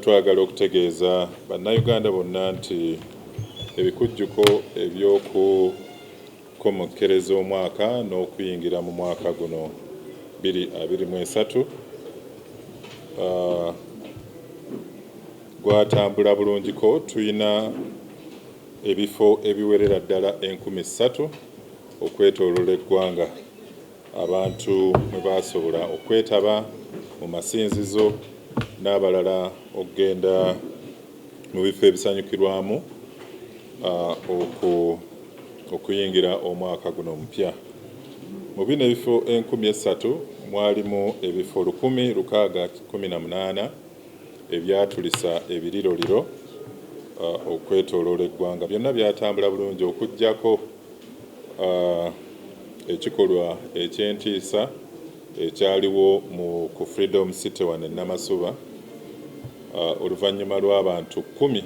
Twagala okutegeeza Bannayuganda bonna nti ebikujjuko eby'okukomekkereza omwaka n'okuyingira mu mwaka guno bbiri abiri mu esatu gwatambula bulungiko. Tulina ebifo ebiwerera ddala enkumi ssatu okwetooloola eggwanga. abantu mwe baasobola okwetaba mu masinzizo n'abalala okugenda mu bifo ebisanyukirwamu okuyingira omwaka guno omupya. Mu bino ebifo enkumi essatu mwalimu ebifo lukumi lukaaga kumi na munaana ebyatulisa ebiriroliro okwetooloola eggwanga. Byonna byatambula bulungi okuggyako. Ekikolwa eky'entiisa ekyaliwo mu ku Freedom City wano e Namasuba oluvannyuma lw'abantu kkumi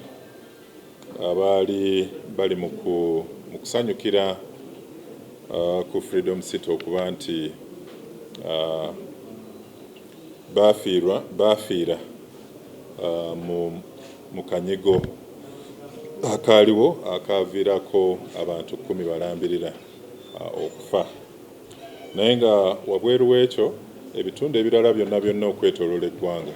abaali bali mu kusanyukira ku Freedom City okuba nti baafiirwa baafiira mu mu kanyigo akaaliwo akaaviirako abantu kkumi balambirira okufa naye nga wabweru w'ekyo ebitundu ebirala byonna byonna okwetoloola eggwanga